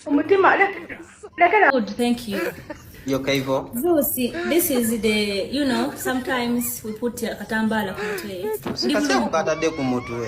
omutima lekera good thank you yoka hivyo Zusi, this is the you know sometimes we put katambala ku mutwe sikasema kukatade ku mutwe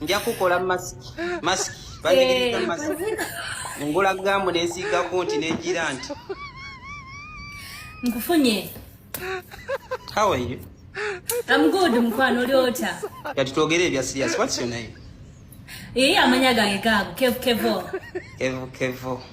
nja kukola masiki masiki banjigiriza eh, masiki ngula gamu nensiigako nti nenjira nti nkufunye how are you I'm good mkwano oli otya kati twogere ebya serious what's your name ee eh, amanya gange gaago kevu kevo kevu kevo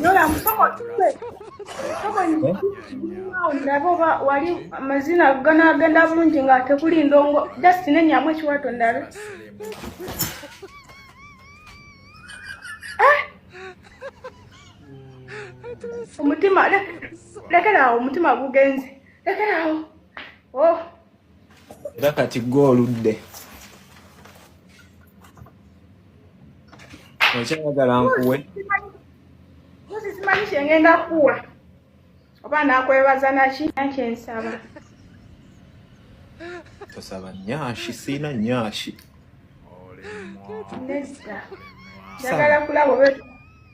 Nola musoko tupe. Musoko ni ndabo ba wali mazina gana agenda bulungi nga tekuli ndongo just ne nyamwe kiwato ndabe. Ah! Omutima lekera awo omutima gugenze. Lekera awo. Oh. era kati gwe oludde okyayagala nkuwe mpozi simanyi kyengenda kuwa oba nakwebaza naki nakyensaba tosaba nyashi siina nyashi nedda njagala kulaba oba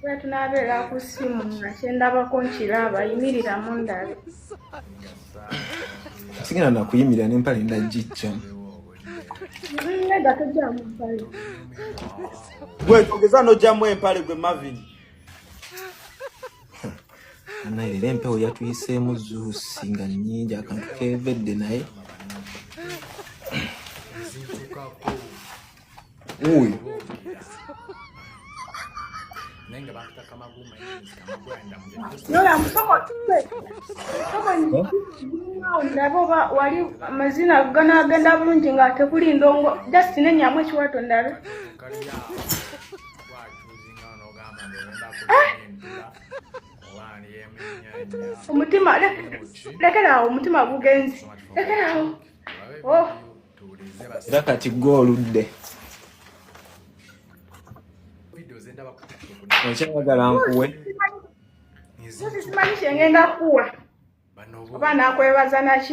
era tunaabeera ku ssimu nga kyendabako nkiraba yimirira mu ndabe sigenda nakuyimirira nempale ndagijja nedda tojjamu mpale gwe togeza nojjamu empale gwe mavini naye leero empewo yatuyiseemu zuusi nga nnyingi akantu kevedde naye oyo ndaba oba wali amazina ganagenda bulungi nga tekuli ndongo just nenyamu ekiwato ndabe omutima lekeraawo omutima gugenzi lekeraawo oh. era kati gwe oludde okyayagala nkuwe oba nakwebaza naki